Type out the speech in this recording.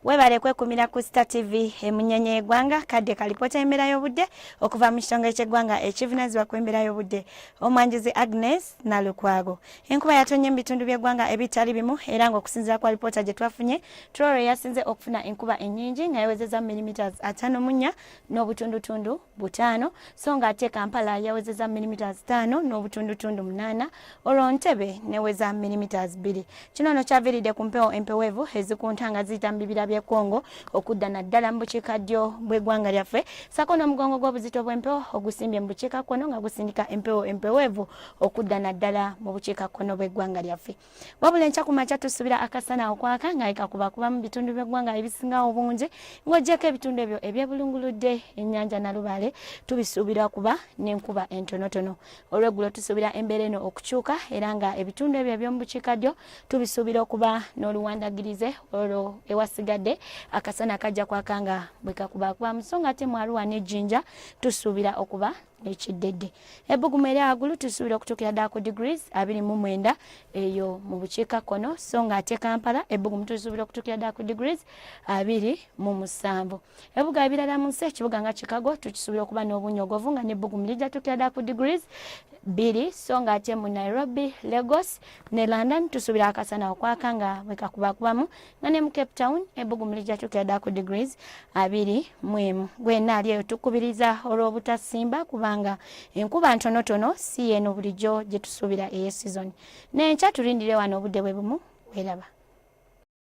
webale kwekumira ku star tv emunyenye yegwanga kadde kalipota embeera y'obudde okuva mu kitongole ky'eggwanga ekivunanyizibwa ku embeera y'obudde omwanjuzi agnes nalukwago enkuba yatonye mu bitundu by'eggwanga ebitali bimu era ng'okusinzira kwa lipoota gye twafunye troro yasinze okufuna enkuba ennyingi nga yawezeza millimeters ataano mu nnya n'obutundutundu butaano so nga ate kampala yawezeza milimetres taano n'obutundutundu munaana olwo ntebe neweza milimetres bbiri kino no kyaviridde ku mpewo empeweevu ezikunta nga ziyita mu bibira by'e congo okudda naddala mu bukiika ddyo bw'eggwanga lyaffe sako n'omugongo gw'obuzito bw'empewo ogusimbye mu bukiika kkono nga gusindika empewo empeweevu okudda naddala mu bukiika kkono bw'eggwanga lyaffe wabula enkya ku makya tusuubira akasana okwaka nga ekakuba kuba mu bitundu by'eggwanga ebisinga obungi ng'ogyeko ebitundu ebyo ebyebulunguludde ennyanja nalubaale tubisuubira kuba n'enkuba entonotono olweggulo tusuubira embeera eno okukyuka era nga ebitundu ebyo eby'omu bukiikaddyo tubisuubira okuba n'oluwandagirize olwo ewasigadde akasana kajja kwaka nga bwe kakuba kuba mu so nga ate mu aruwa n'ejjinja tusuubira okuba ekiddedde ebbugumu eri agulu tusuubira okutuukira ddala ku degrees abiri mu mwenda eyo mu bukiika kkono so nga ate kampala ebbugumu tusuubira okutuukira ddala ku degrees abiri mu musanvu ebibuga ebirala mu nsi ekibuga nga chicago tukisuubira okuba n'obunyogovu nga n'ebbugumu lijja tuukira ddala ku degrees bbiri so nga ate mu nairobi lagos ne london tusuubira akasana okwaka nga bwekakubakubamu nga ne mu cape town ebbugumu lijja tuukira ddala ku degrees abiri mu emu gwena ali eyo tukubiriza olw'obutasimba kubanga enkuba ntonotono si yeeno bulijjo gye tusuubira eye sizoni n'enkya tulindire wano obudde bwe bumu weeraba